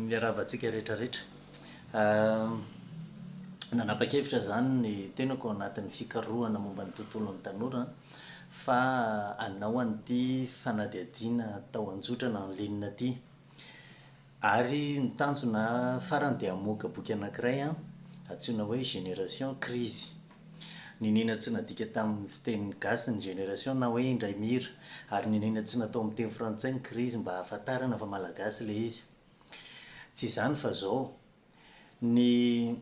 Miarahaba antsika rehetra rehetra. Nanapa-kevitra izany ny tenako ao anatin'ny fikarohana momba ny tontolon'ny tanora fa hanao an'ity fanadihadiana tao an-jotrana en ligne ity. Ary ny tanjona farany dia hamoaka boky anankiray antsoina hoe Génération Crise. Niniana tsy nadika tamin'ny fiteny gasy ny génération na hoe indray mira, ary niniana tsy natao amin'ny teny frantsay ny crise mba hahafantarana fa malagasy ilay izy. Tsy izany fa izao, ny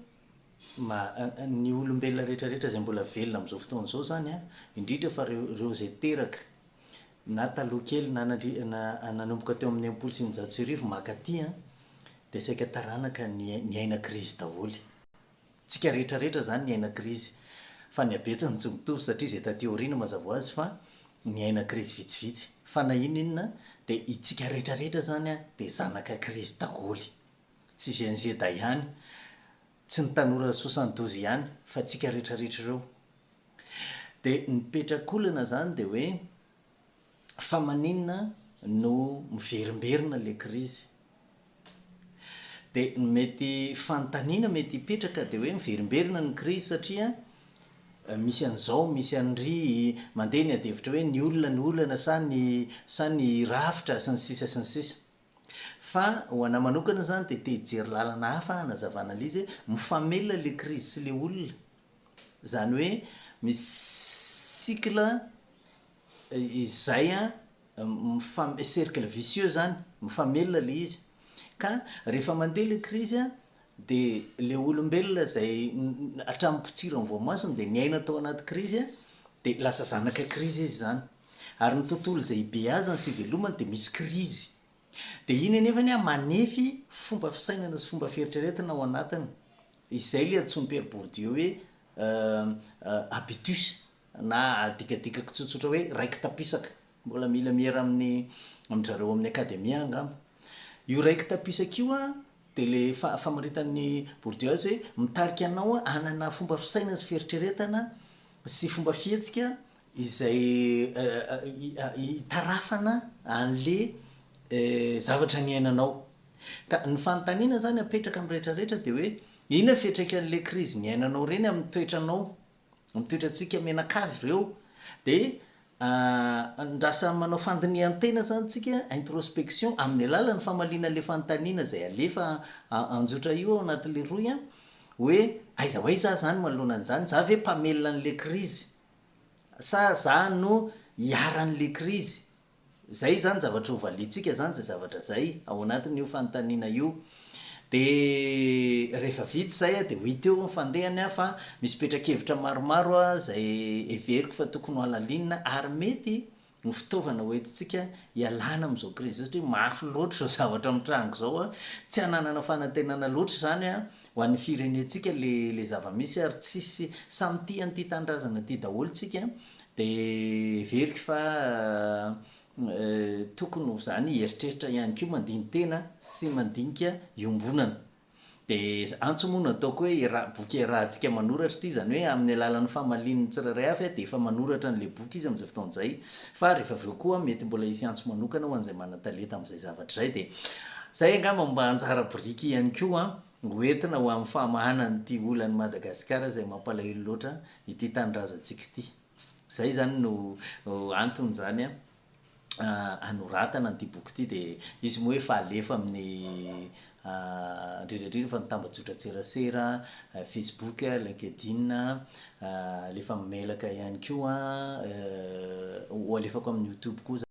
ma, ny olombelona rehetrarehetra izay mbola velona amin'izao fotoana izao izany an, indrindra fa ireo izay teraka na taloha kely na nandri na nanomboka teo amin'ny enimpolo sy eninjato sy arivo maka aty an, dia saika taranaka ny niaina krizy daholo. Tsika rehetra rehetra izany niaina krizy, fa ny habetsany tsy mitovy satria izay taty aoriana mazava ho azy fa niaina krizy vitsivitsy, fa na inona inona dia itsika rehetra rehetra izany an dia zanaka krizy daholo. Tsy gnz dahihany. Tsy ny tanora soixante douze ihany fa tsika retraretra ireo. Dia ny petrakolana zany dia hoe fa maninona no miverimberina le krizy. Dia ny mety fanontaniana mety hipetraka dia hoe miverimberina ny krizy satria misy an'izao misy an'ry, mandeha ny adihevitra hoe ny olona no olana sa ny sa ny rafitra sy ny sisa sy ny sisa. Fa ho anah manokana zany de te hijery lalana hafa aho hanazavana an'le izy hoe mifamelona le krizy sy le olona. Zany hoe misy cycle izay mifam- cercle vicieux zany, mifamelona le izy. Ka rehefa mandeha le krizy de le olombelona zay hatramin'ny potsiran'ny voamasony de niaina tao anaty krizy de lasa zanaka krizy izy zany. ary ny tontolo izay ibeazany sy ivelomany dia misy krizy. Dia iny anefany an, manefy fomba fisainana sy fomba fieritreretana ao anatiny. Izay ilay antsoin'i Pierre Bourdieu hoe habitus na adikadikako tsotsotra hoe raiki-tapisaka. Mbola mila miera amin'ny amin-dry zareo amin'ny Akademia angamba. Io raiki-tapisaka io an, dia ilay fa- famaritan'i Bourdieu azy hoe mitarika anao hanana fomba fisainana sy fieritreretana sy fomba fihetsika izay itarafana an'le zavatra niainanao. Ka ny fanontaniana zany apetraka amin'ny rehetra rehetra de hoe inona fiatraikan'le krizy niainanao reny amin'ny toetranao, amin'ny toetrantsika mianakavy reo? De ndra samy manao fandinihan-tena zany tsika, introspection, amin'ny alalan'ny famaliana an'le fanontaniana zay alefa anjotra io ao anatin'le rohy a, hoe aiza ho aiza ah zany manoloana an'zany, za ve mpamelona an'le krizy? Sa za no iharan'le krizy? Zay zany zavatra ho valiantsika zany zay zavatra zay ao anatin'io fanontaniana io. De rehefa vita zay de ho hita eo ny fandehany an, fa misy petra-kevitra maromaro zay heveriko fa tokony ho halalinina ary mety no fitaovana hoentintsika hialana amin'izao krizy izao satria mafy loatra izao zavatra mitranga izao a, tsy hananana fanantenana loatra izany a, ho an'ny firenentsika le le zava-misy ary tsisy samy tia an'ity tanindrazana ity daholo tsika de heveriko fa tokony ho zany hieritreritra ihany koa mandini-tena sy mandinika iombonana. Dia antso moa no ataoko hoe iaraha, boky iarahantsika manoratra ity, izany hoe amin'ny alalan'ny famalian'ny tsirairay avy dia efa manoratra an'ilay boky izy amin'izay fotoana izay, fa rehefa avy eo koa mety mbola hisy antso manokana ho an'izay manan-talenta amin'izay zavatra izay. Dia izay angamba mba anjara biriky ihany koa ho entina ho amin'ny famahana an'ity olan'i Madagasikara izay mampalahelo loatra ity tanindrazantsika ity. Izay izany no anton'izany anoratana an'ity boky ity dia izy moa efa alefa amin'ny indrindra indrindra fa ny tambajotran-tserasera, Facebook, LinkedIn, alefa amin'ny mailaka ihany koa, ho alefako amin'ny YouTube koa izany.